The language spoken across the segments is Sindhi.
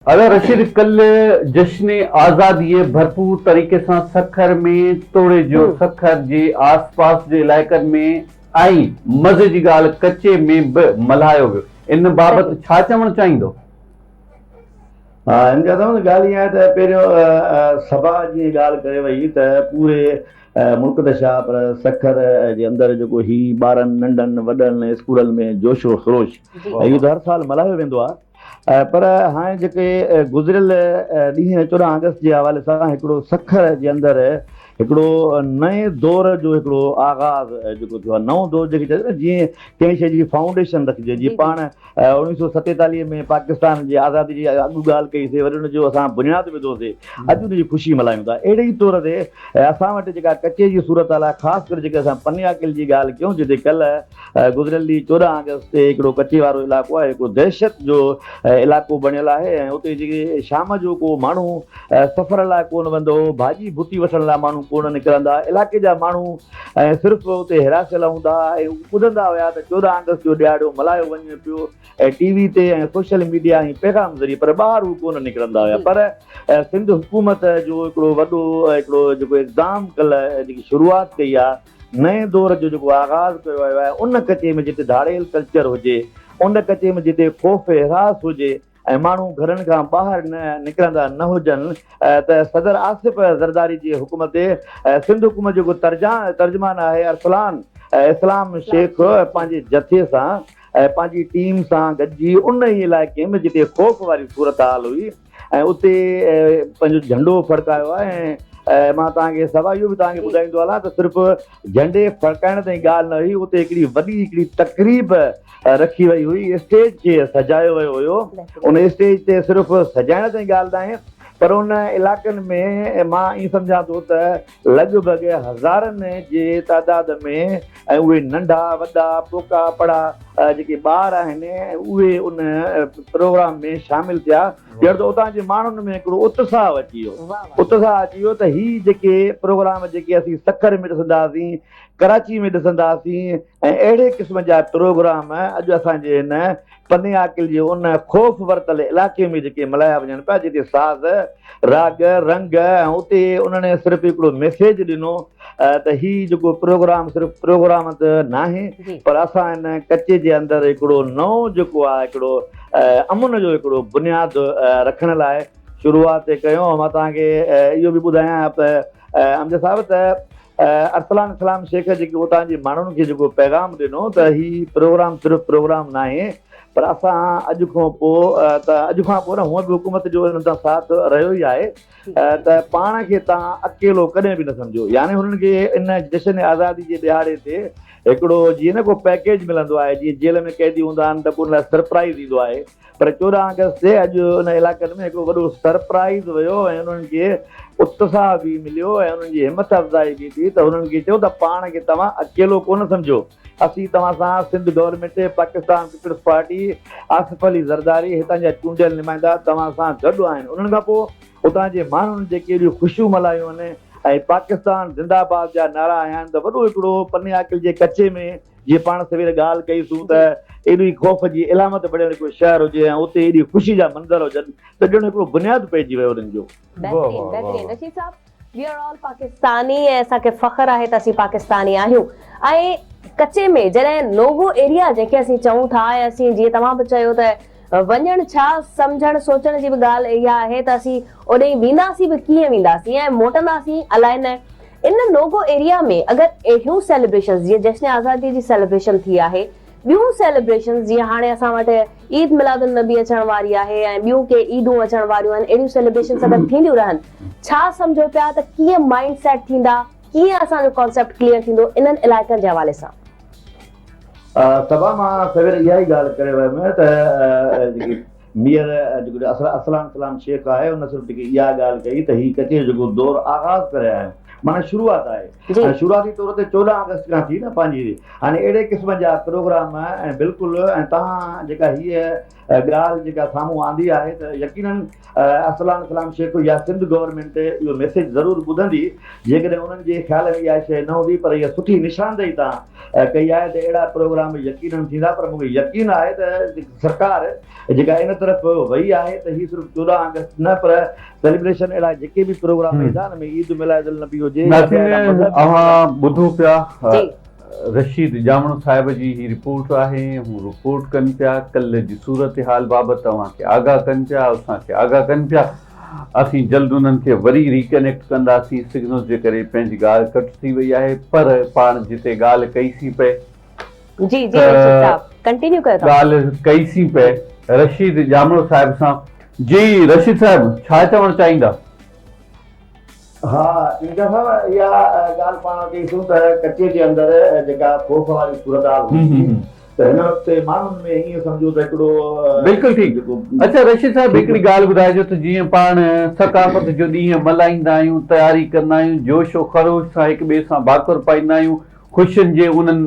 ادا رشيد ڪل جشن آزادي ڀرپور طريقي سان سکر ۾ توڙيجو سکر جي آس پاس جي علائقن ۾ ۽ مزي جي ڳالهه ڪچي ۾ به ملهايو ويو ان بابت ڇا چوڻ چاهيندو؟ ها ان جي اصل ۾ ڳالهه ائين آهي ته پهريون صبا جيئن ڳالهه ڪري وئي ته پوري ملڪ ته ڇا پر سکر جي اندر جيڪو هي ٻارن ننڍن وڏن اسڪولن ۾ جوش و خروش اهو ته هر سال ملهايو ويندو آهي پر هاڻي جيڪي گذريل ڏينهن چوڏهن آگسٽ جي حوالي سان هڪڙو سکر جي اندر هڪڙو نئين دور جو هڪڙو آغاز جيڪو ٿيو آهي نئون دور جيڪي چئجي نه جيئن ڪنهن شيء جي فائونڊيشن رکجي جيئن پاڻ اوڻيهه سو ستيتاليهه ۾ پاڪستان جي آزادي جي اڳ ڳالهه ڪئي سي وري ان جو اسان بنياد وڌو سي اڄ ان جي خوشي ملهايون ٿا اهڙي ئي طور تي اسان وٽ جيڪا ڪچي جي صورتحال آهي خاص ڪري جيڪي اسان پني آڪل جي ڳالهه ڪيون جتي ڪلهه گذريل ڏينهن چوڏهن آگسٽ تي هڪڙو ڪچي وارو علائقو آهي جيڪو دهشت جو علائقو بڻيل آهي ۽ اتي جيڪي شام جو ڪو ماڻهو سفر لاء ڪونه ويندو ڀاڄي ڀتي وٺڻ لاء ماڻهو ڪونه نڪرندا علائقي جا ماڻهو صرف اتي هراسيل هوندا ۽ ٻڌندا هيا ته چوڏهن آگسٽ جو ڏهاڙو ملهايو وڃي پيو ۽ ٽي وي تي ۽ سوشل ميڊيا ۽ پيغام ذريعي پر ٻاهر هو ڪونه نڪرندا هيا پر سنڌ حڪومت جو هڪڙو وڏو هڪڙو جيڪو اقدام ڪل جيڪي شروعات ڪئي آهي نئين دور جو جيڪو آغاز ڪيو ويو آهي ان ڪچي ۾ جتي ڌاڙيل ڪلچر هجي ان ڪچي ۾ جتي خوف هراس هجي ۽ ماڻهو گهرن کان ٻاهر نڪرندا نه هجن ته صدر آصف زرداري جي حڪم تي سنڌ حڪومت جيڪو ترجمان آهي ارسلان اسلام شيخ پنهنجي جٿي سان پنهنجي ٽيم سان گڏجي ان ئي علائقي ۾ جتي خوف واري صورتحال هئي ۽ اتي پنهنجو جهنڊو ڦڙڪايو آهي ۽ مان توهان کي سوا اهو به توهان کي ٻڌائيندو هلان ته صرف جهنڊي ڦڙڪائڻ تائين ڳالهه نه هئي اتي هڪڙي وڏي هڪڙي تقريب رکي وئي هئي اسٽيج کي سجايو ويو هيو ان اسٽيج تي صرف سجائڻ تائين ڳالهه ناهي پر ان علائقن ۾ مان ائين سمجهان ٿو ته لڳ ڀڳ هزارن جي تعداد ۾ ۽ اهي ننڍا وڏا پوڪا پڙا جيڪي ٻار آهن اهي ان پروگرام ۾ شامل ٿيا ڄڻ ته اتان جي ماڻهن ۾ هڪڙو اتساهه اچي ويو اتساهه اچي ويو ته هي جيڪي پروگرام جيڪي اسين سکر ۾ ڏسنداسين ڪراچي ۾ ڏسنداسين ۽ اهڙي قسم جا پروگرام اڄ اسان جي هن پني عاقل جي ان خوف ورتل علائقي ۾ جيڪي ملهايا وڃن پيا جتي ساز، راڳ، رنگ ۽ اتي انهن صرف هڪڙو ميسيج ڏنو ته هي جيڪو پروگرام صرف پروگرام ته ناهي پر اسان هن ڪچي جي اندر هڪڙو نئون جيڪو آهي هڪڙو امن جو هڪڙو بنياد رکڻ لاء شروعات ڪيون مان توهان کي اهو به ٻڌايان ته امجد صاحب ته ارسلان اسلام شيخ جيڪي اتان جي ماڻهن کي جيڪو پيغام ڏنو ته هي پروگرام صرف پروگرام ناهي پر اسان اڄ کان پوء ته اڄ کان پوء نه هونء به حڪومت جو انهن سان ساٿ رهيو ئي آهي ته پاڻ کي توهان اڪيلو ڪڏهن به نه سمجهو يعني هنن کي ان جشن آزادي جي ڏهاڙي تي هڪڙو جيئن نه ڪو پيڪيج ملندو آهي جيئن جيل ۾ قيدي هوندا آهن ته پوء ان لاء سرپرائز ايندو آهي پر چوڏهن آگسٽ تي اڄ ان علائقن ۾ هڪڙو وڏو سرپرائيز ويو ۽ انهن کي اتساهه به مليو ۽ انهن جي همٿ افزائي به ٿي ته هنن کي چئو ته پاڻ کي توهان اڪيلو ڪونه سمجهو اسين توهان سان Sindh government, Pakistan Peoples Party, Asif Ali Zardari هتان جا چونڊيل نمائندا توهان سان گڏ آهن انهن کان پوء اتان جي ماڻهن جيڪي اهڙيون خوشيون ملهايون آهن ۽ پاڪستان زنده آباد جا نعرا هنيا آهن ته وڏو هڪڙو پني آڪل جي ڪچي ۾ جيئن پاڻ سوير ڳالهه ڪئيسون ته ايڏو ئي خوف جي علامت بڻيل ڪو شهر هجي ۽ اتي ايڏي خوشي جا منظر هجن ته ڄڻ هڪڙو بنياد پئجي ويو انهن جو. بهترين بهترين رشيد صاحب وي آر آل پاڪستاني ۽ اسان کي فخر آهي ته اسين پاڪستاني آهيون ۽ ڪچي ۾ جڏهن نوو ايريا جنهن کي اسين چئون ٿا ۽ اسين جيئن توهان به چيو ته وڃڻ ڇا، سمجهڻ سوچڻ جي به ڳالهه اها آهي ته اسين اوڏيهين وينداسين به ڪيئن وينداسين ۽ موٽنداسين الائي نه. ان نوگو ايريا ۾ اگر اهڙيون سيليبريشنز جيئن جشن آزاديء جي سيليبريشن ٿي آهي، ٻيون سيليبريشنز جيئن هاڻي اسان وٽ عيد ميلاد النبي اچڻ واري آهي ۽ ٻيون ڪي عيدون اچڻ واريون آهن، اهڙيون سيليبريشنز اگر ٿينديون رهن، ڇا سمجهو پيا ته ڪيئن مائينڊ سيٽ ٿيندا، ڪيئن اسان جو ڪانسيپٽ ڪليئر ٿيندو انهن علائقن جي حوالي سان. صبا مان سوير اها ئي ڳالهه ڪري ويم ته جيڪي مير جيڪو ارسلان سلام شيخ آهي ان صرف جيڪي اها ڳالهه ڪئي ته هي ڪچهري جو جيڪو دور آغاز ڪري آيا آهيون معنيٰ شروعات آهي ۽ شروعاتي طور تي چوڏهن آگسٽ کان ٿي نه پنهنجي هاڻي اهڙي قسم جا پروگرام ۽ بلڪل ۽ تهان جيڪا هيء ڳالهه جيڪا سامهون آندي آهي ته يقيناً ارسلان اسلام شيخ يا سنڌ گورنمينٽ اهو ميسيج ضرور ٻڌندي جيڪڏهن انهن جي خيال ۾ اها شيء نه هوندي پر اها سٺي نشاندهي تان ڪئي آهي ته اهڙا پروگرام يقيناً ٿيندا پر مونکي يقين آهي ته سرڪار جيڪا ان طرف وئي آهي ته هي صرف چوڏهن آگسٽ نه پر سيليبريشن اهڙا جيڪي به پروگرام ايندان ۾ عيد ميلاد النبي هجي يا ٻيا اهڙا مذهبي پروگرام. رشيد ڄامڙو صاحب جي هي رپورٽ آهي ۽ هو رپورٽ ڪن پيا ڪلهه جي صورتحال بابت اوهان کي آگاهه ڪن پيا اسان کي آگاهه ڪن پيا اسين جلد انهن کي وري ري ڪنيڪٽ ڪنداسين سگنل جي ڪري پنهنجي ڳالهه ڪٽ ٿي وئي آهي پر پاڻ جتي ڳالهه ڪئي سين پئي جي جي رشيد صاحب ڪنٽينيو ڪيو توهان ڳالهه ڪئي سين پئي رشيد ڄامڙو صاحب سان. جي رشيد صاحب ڇا چوڻ چاهيندا. ها ان دفعا اها ڳالهه پاڻ وٽ ڏسون ته ڪچي جي اندر جيڪا خوف واري صورتحال هئي ٿي ته هن وقت ماڻهن ۾ ائين سمجهو ته هڪڙو بلڪل ٺيڪ اچا رشيد صاحب هڪڙي ڳالهه ٻڌائجو ته جيئن پاڻ ثقافت جو ڏينهن ملهائيندا آهيون تياري ڪندا آهيون جوش و خروش سان هڪ ٻئي سان ڀاڪر پائيندا آهيون خوشين جي انهن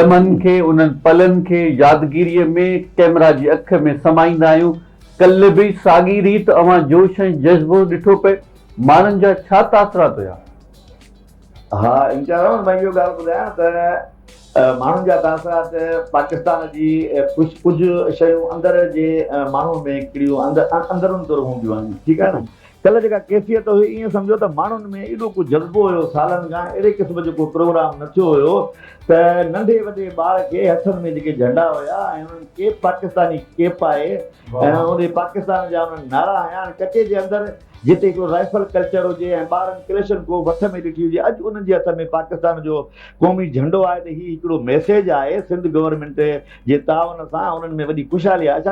لمحن کي انهن پلن کي يادگيري ۾ ڪئميرا جي اک ۾ سمائيندا آهيون ڪلهه به ساڳي ريت اوهان جوش ۽ جذبو ڏٺو پئي، ماڻهن جا ڇا تاثرات هيا؟ ها انشاء الله مان اهو ڳالهه ٻڌايان ته ماڻهن جا تاثرات پاڪستان جي ڪجهه ڪجهه شيون اندر جي ماڻهو ۾ ڪهڙيون اندرون تر هونديون آهن ٺيڪ آهي نه ڪلهه جيڪا ڪيفيت هئي ائين سمجهو ته ماڻهن ۾ ايڏو ڪو جذبو هيو سالن کان اهڙي قسم جو ڪو پروگرام نه ٿيو هيو ته ننڍي وڏي ٻار کي هٿن ۾ جيڪي جهنڊا هيا ۽ انهن ڪيپ پاڪستاني ڪيپ پائي ۽ انهي پاڪستان جا انهن نعرا هنيا ۽ ڪچي جي اندر جتي هڪڙو رائفل ڪلچر هجي ۽ ٻارن ڪليشن ڪوف هٿ ۾ ڏٺي هجي اڄ انهن جي هٿ ۾ پاڪستان جو قومي جهنڊو آهي ته هي هڪڙو ميسيج آهي سنڌ گورنمينٽ جي تعاون سان انهن ۾ وڏي خوشحالي آهي